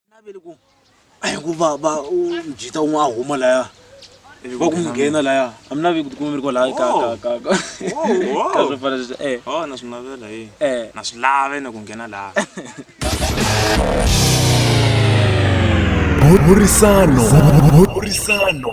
naveli ku a hi ku va va mjita un'we a huma laya va ku nghena laya a mi navi ku tikuma mi ri kwalaya ka ka ka ka ka swo fana sweswo eh oh na swi navela hi eh na swi lave na ku nghena laha burisano burisano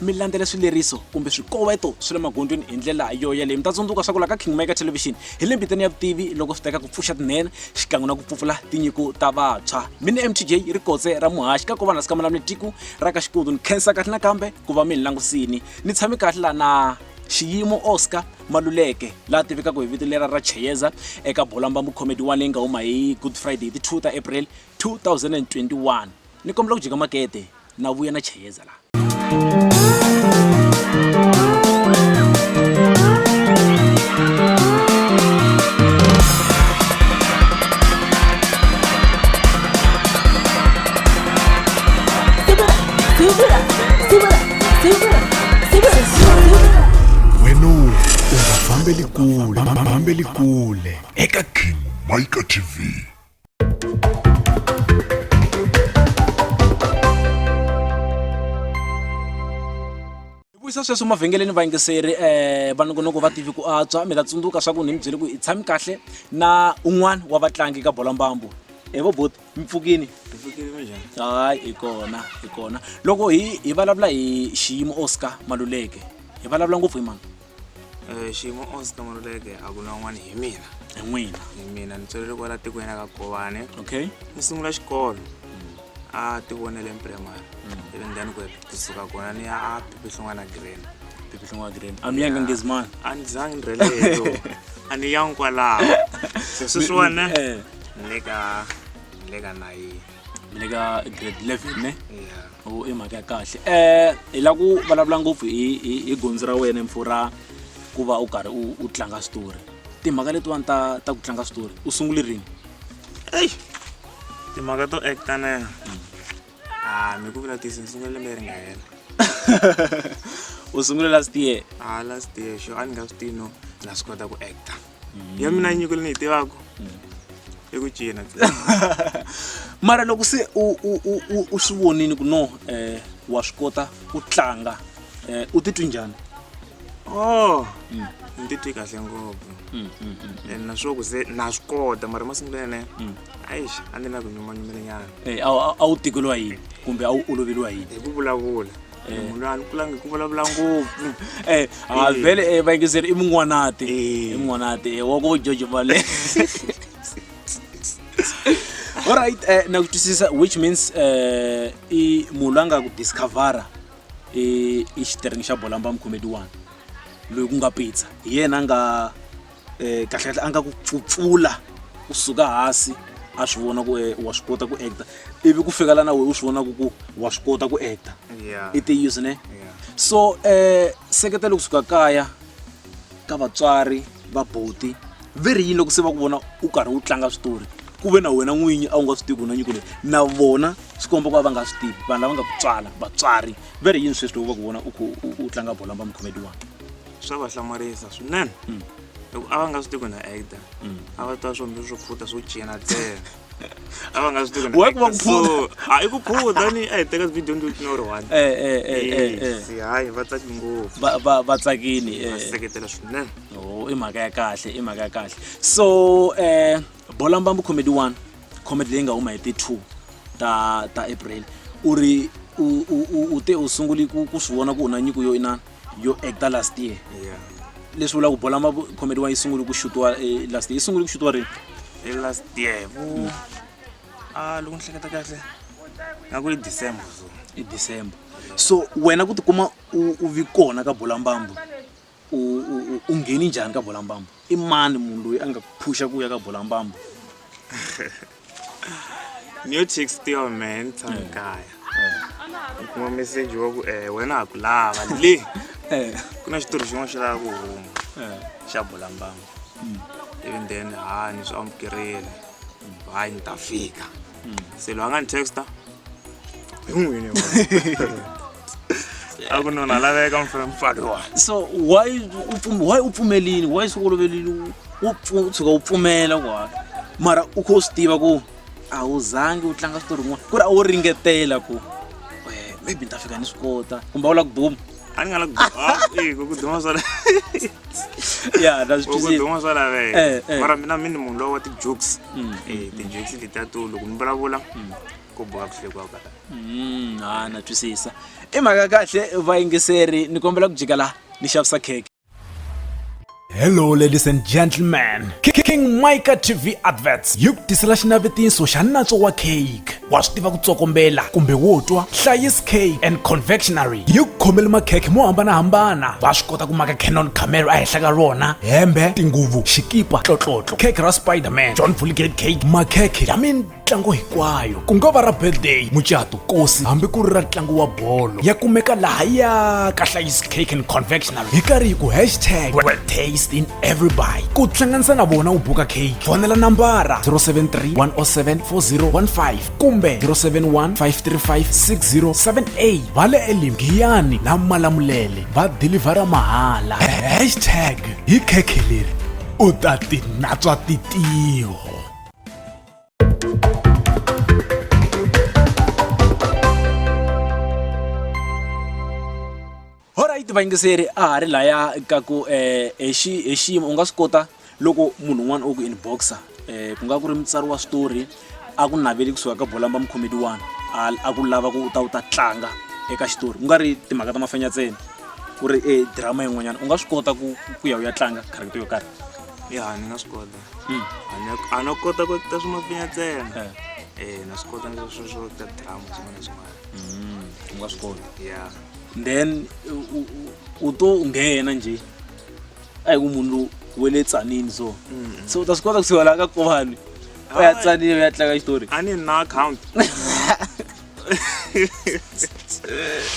mi landzela swileriso kumbe swikoweto swi le magondzweni hi ndlela yo yeleyo mi ta tsundzuka swa ku laha ka kingmaker television hi le mbitani ya vutivi loko swi teka ku pfuxa tinene xikan'we na ku pfupfula tinyiko ta vantshwa mi ni mtj ri kotse ra muhaxi ka kovana sika malamule tiku ra ka xikudu ni khensa kahle nakambe ku va mi ni langusini ni tshame kahle la na xiyimo oscar maluleke laha tivekaka hi vito lera ra cheyeza eka bolambambu comedy one leyi nga huma hi good friday hi ti 2 ta april 2021 ni kombela ku jika makete na vuya na cheyeza laha Bambeli Kule, Bambeli Kule, Eka King Micah TV. vuyisa sweswo mavhengeleni vayingiseri um eh, vanongonoko va tivi ku antswa mi ta tsundzuka swa ku ni mi byele ku hi tshami kahle na un'wana wa vatlangi ka bola mbambu e vo bot mi pfukini hayi hi kona hi kona loko hi hi vulavula hi xiyimo oscar maluleke hi vulavula ngopfu hi mani Eh, xiyimo oscar maluleke a ku na un'wana hi mina hi n'wina hi mina ni tswelele kwala tikweni ra ka govane okay ni sungula xikolo a tivonele primary ivi ndani ku kusuka kona ni ya a pipihlungwana green pipihlungwana green a mi yanga ngezimana a ni zangi ni rheleyo a ni yangi kwalaho se sweswiwana eh. ni le ka ni le ka nayini mi le ka grade eleven ne o i mhaka ya kahle um hi la ku vulavula ngopfu hi- hi hi gondzo ra wena mfo ra ku va u karhi u u tlanga switori timhaka letiwani ta ta ku tlanga switori u sungule rini eyi timhaka to acta na yena a mi ku vula tisi ni sungule lembe ri nga hela u sungule last year a last year xo a ni nga swi tivi no na swi kota ku acta ya mina mm. nyiko leyi ni yi tivaka mm. i ku cina mara loko se u swi vonini ku no um wa swi kota ku tlanga um u titwi njhani o oh, mm. ni titwi kahle ngopfu and naswo ku se na swi kota mara masungulo yene aixi a ni na ku nyumanyumela nyana a wu tikeliwa yini kumbe a wu oloveliwa yini hi ku vulavula Eh. munhu loyi a ni kulangi hi ku vulavula ngopfu Eh, ah, Eh. vele eh, vayingiseri i mun'wanati Eh. i mun'wanati eh, wa ku jojo vale alright eh, na ku twisisa which means eh, i munhu loyi a nga ku discovera i i xiteringi xa bolamba mukhomedi wani loyi ku nga pizza hi yena a nga eh, kahlekahle a nga ku pfupfula u suka hansi a swi vona ku eh, wa swi kota ku acta ivi ku fika lana wena u swi vona ku ku wa swi kota ku acta i tiyiso ne so um seketelo kusuka kaya ka vatswari va boti ve ri yini loko se va ku vona u karhi u tlanga switori ku ve na wena n'winyi a wu nga swi tivi na nyiko leyi na vona swi komba ku va va nga swi tivi vanhu lava nga ku tswala vatswari ve ri yini sweswi loko va ku vona u tlanga bola va mukhomedi wani swa va hlamarisa swinene loko a va nga swi tivi ku na actor a va twa swombi swo phuta swo cina ntsena a va nga swi tivi ku na Why ku va actor. ku phuta? So, a i ku phuta ni a hi teka video ndi utina u ri one Eh, eh, eh, eh, eh. Yes, hayi va tsaki ngopfu Va- va- va tsakini va eh. seketela swinene Oh, i mhaka ya kahle i mhaka ya kahle so eh bola mbambu comedy one comedy leyi nga huma hi ti two ta ta april u ri u u- u- u te u sunguli ku ku swi vona ku u na nyiko yo inana yo ekta last year yeah leswi vulaka ku bola ma khomeriwa yi sungule ku xutiwa eh, last year yi sungule ku xutiwa rini hi last year vo hmm. a ah, loko ni hleketa kahle nga ku i december so i december so wena ku tikuma u vi kona ka bolambambu u ngheni njhani ka bolambambu i mani munhu loyi a nga phusha ku ya ka bolambambu new chick still man tsankaya u kuma meseji wa ku eh wena ha ku lava le Eh, ku na xitori xin'wana xi lava ku huma eh, xa bulambanga mm, even then ha ni swi amukerile hayi ni ta fika se loyi a nga ni texta a ku nona laveka mfemfaki wa so why u pfum- why u pfumelini why swi olovelile u- u pfu- u tshuka u pfumela wa mara u kho u swi tiva ku a wu zangi u tlanga switori rin'wana ku ri a wo ringetela ku eh, maybe ni ta fika ni swi kota kumbe a wu la ku buma ani kana eh ko duma sala ya da ko duma sala ve eh, eh. mara mina mini munhu lowa ti jokes mm. eh ti jokes ti ta to loko mi vulavula mm. ko boha ku hlekwa ka mm ha na twisisa i mhaka kahle vayingiseri ni kombela ku jika la ni xavisa cake Hello ladies and gentlemen. King Micah TV Adverts yi ku tisela xinavetiso xa nantswo wa cake. Wa swi tiva ku tsokombela kumbe wo twa Hlayis Cake and Confectionery yi ku khomele makhekhe mo hambanahambana. Va swi kota ku maka Canon camera ehenhla ka rona, hembe, tinguvu, xikipa, tlotlotlo, cake ra Spider-Man, John Fulgate cake, makhekhe ya min ntlango hinkwayo ku nga va ra birthday mucato kosi hambi ku ri ra ntlango wa bolo ya kumeka laha ya ka hlayisi cake and convectional hi karhi hi ku hashtag taste in everybody ku hlanganisa na vona u buka cake fonela nambara 073 107 4015 kumbe 071 535 6078 va le elim giyani na malamulele va dilivhara mahala hashtag hi khekhe leri u ta tinatswa titiho olright vayingiseri a ha ri laya ka ku um eh, hi xiyimo u nga swi kota loko munhu un'wana o ku inboxa um ku nga ku ri mutsari wa switori a ku naveli kusuka ka bolamba mukhomedi wani a ku lava ku u ta u ta tlanga eka xitori ku nga ri timhaka ta mafenya ntsena ku ri e drama yin'wanyana u nga swi kota ku ku ya u ya tlanga character yo karhi ya ni nga swi kota a no kota ku ta swi mapinya ntsena eh. eh na swi kota ndzi swi swo ta drama swin'wana swin'wana mm, u nga swi kota ya then u to nghena nje a hi ku munhu lowu we le tsanini so mm. so u ta swi kota ku siwela ka kovani u ya tsanile u ya tlanga xitori a ni na account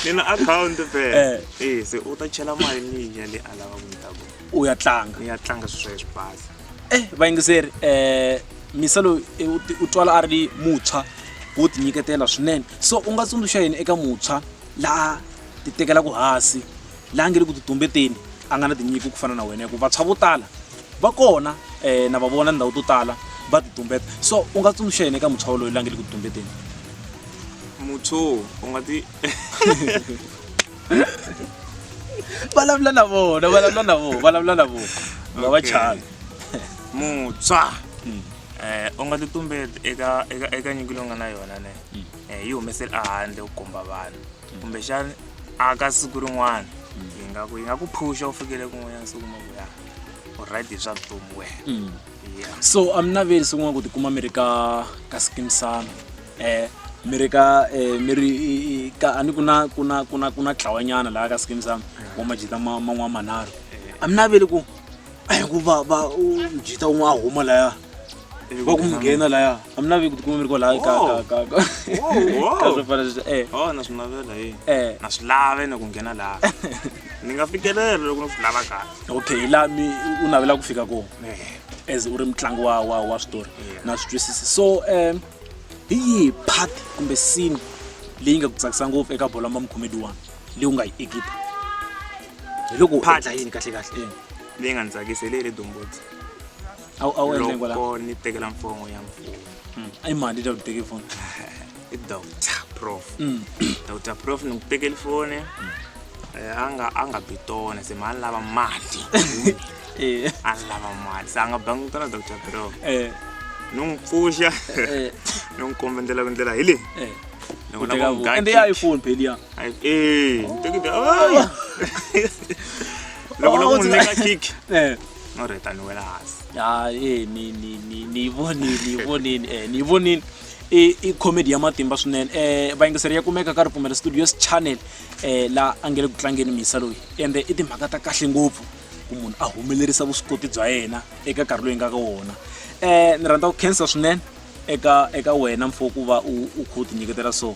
ni na account phela eh. eh se u ta chela mali ni ya le a lava ku ni ta kona u ya tlanga ni ya tlanga swilo swa ye swi basa eh vayingiseri eh misa loyi eh, u ti- u twala a ri mutshwa wo tinyiketela swinene so u nga tsundzuxa yini eka mutshwa laha ti tekelaku hansi laha nge ri ku titumbeteni a nga na tinyiko ku fana na wena hikuva vantshwa vo tala va kona um na va vona ndhawu to tala va titumbeta so u nga tsundzuxa yini eka mutshwa woloyo laha nge ri ku titumbeteni muthu u nga ti vulavula na vona vulavula na vona vulavula na vona va va Okay. chana mutswa Mm. eh u nga titumbeti eka eka eka nyiko leyi u nga na yona ne Mm. eh yi humeseli ehandle u komba vanhu kumbexani a ka siku rin'wana yi nga ku yi nga ku phusha u fikele kun'wanyana siku ma ku ya u right hi swa vutomi wena Mm. so a mi naveli swin'wana ku tikuma mi ri ka ka skimisana um eh, mi ri ka um mi ri ka a ni ku na ku na ku na ku na tlawanyana laha ka skimisana wa majita man'wana manharhu a mi naveli ku ku va va jita un'we a huma laya va ku mi nghena laya a mi naveli ku tikuma mi ri kwalaha ka ka ka ka ka swo fana sweswo um na swi navela hi na swi lave na ku nghena laha ni nga fikelela loko ni swi lava kahle okay hi laha mi u navela ku fika kona eh. as u ri mutlangi wa wa wa switori na swi twisisi so um hi yihi part kumbe scene leyi nga ku tsakisa ngopfu eka bolo mamkhomedi wani leyi u nga yi ekipa hi loko phatla yini kahle kahle leyi nga ni tsakisa hi leyi le dombotsi a wu endle kwaloko ni tekela mfongo ya mfumo hmm. i mali ta ku teke foni i doctor prof doctor prof ni ku tekeli foni eh, a nga a nga bitone se ma a ni lava mati Eh, a ni lava mati se a nga bangi tona doctor prof eh, ni n'wi pfuxa eh, ni n'wi komba ndlela ku ndlela hi leyi eh. Ni vona Kuteka ku vo- nga ende ya kick. iphone pheli ya Ai- eh, ni tekile ai. loko no Oh, n'wi nyika kick Eh. no reta ni wela hansi ya eh, ni ni ni ni vonile ni vonile eh, ni vonile i i comedy ya matimba swinene eh vayingiseri ya kumeka ka ripfumelo studios channel eh la a nge le ku tlangeni misa loyi ende i timhaka ta kahle ngopfu ku munhu a humelerisa vuswikoti bya yena eka nkarhi loyi nga ka wona eh ni rhandza ku khensa swinene eka eka wena mfo ku va u u kha u tinyiketela so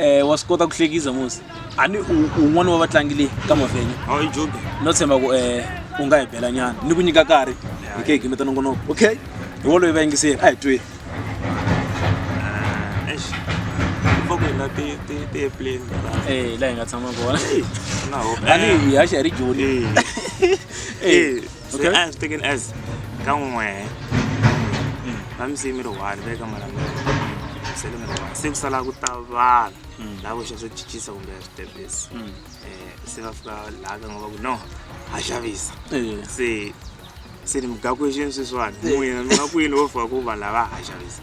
um wa swi kota ku hlekisa mosi a ni un'wana wa vatlangi leyi ka mavhenya no tshemba ku um u nga hi bela nyana ni ku nyika nkarhi hi ke hi gimeta nongonoko okay hi woloyi va yingiseli a hi tweni la hi nga tshama kona ani hi haxa hi ri joni Okay. So as taken as kan'we va mi siyi mi ri one va ye ka mara se le mi ri one se ku sala ku ta vana laha ku xa swo cincisa kumbe switepisi um se va fika laha ka nga va ku no ha xavisa se se ni mugakwexieni sweswiwani n'wina mi nga kwini vo fika ku vanhu lava ha xavisa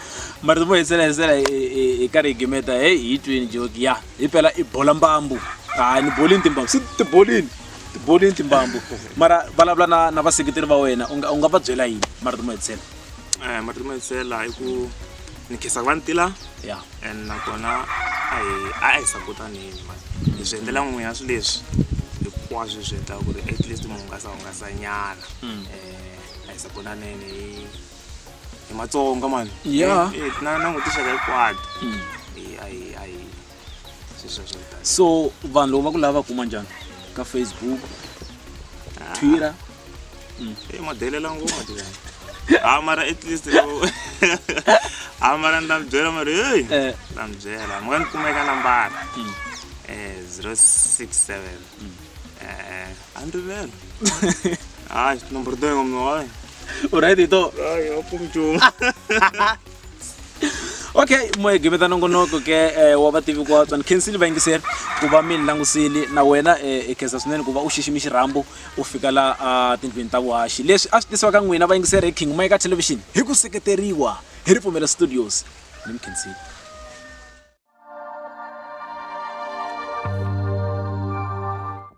mara ti mu hetsela hetsela hi hi karhi hi gimeta heyi hi twini joki ya hi phela i bola mbambu hayi ni bolini timbambu si tibolini tibolini timbambu mara vulavula na na vaseketeri va wena u nga u nga va byela yini mara ti mu hetsela eh, mara ti mu hetsela hi ku ni khesa ku va ni tila ya and nakona a hi a hi sapotanini mani hi swi endlela n'wina swi leswi hinkwaswo hi swi endlaka ku ri at least mu hungasa hungasa nyana um a hi sapotaneni hi hi matsonga mani Yeah. Eh, eh, na langutixaka hikwati Eh, ayi ayi swi sweswo kutani. so vanhu loko va ku lava va kuma njhani ka facebook twitter Eh, madelela ngoma tivana ha mara at least loko ha mara ni ta mi byela mara heyi Eh. ni ta mi byela mi nga ni kumeka nambara Mm. eh 067 eh a ni rivele hayi nomboro to yin'we mina wayi u right hi to hayi a ku nchumu okay moya gimeta nongonoko ke eh, wa vativi ku watswa ni khensile vayingiseri ku va mi ni langusile na wena eh, hi khensa swinene ku va u xiximi xirhambo u fika la ah, tindlwini ta vuhaxi leswi a swi tisiwa ka n'wina vayingiseri hi king mike television hi ku seketeriwa hi ripfumelo studios ni mi khensile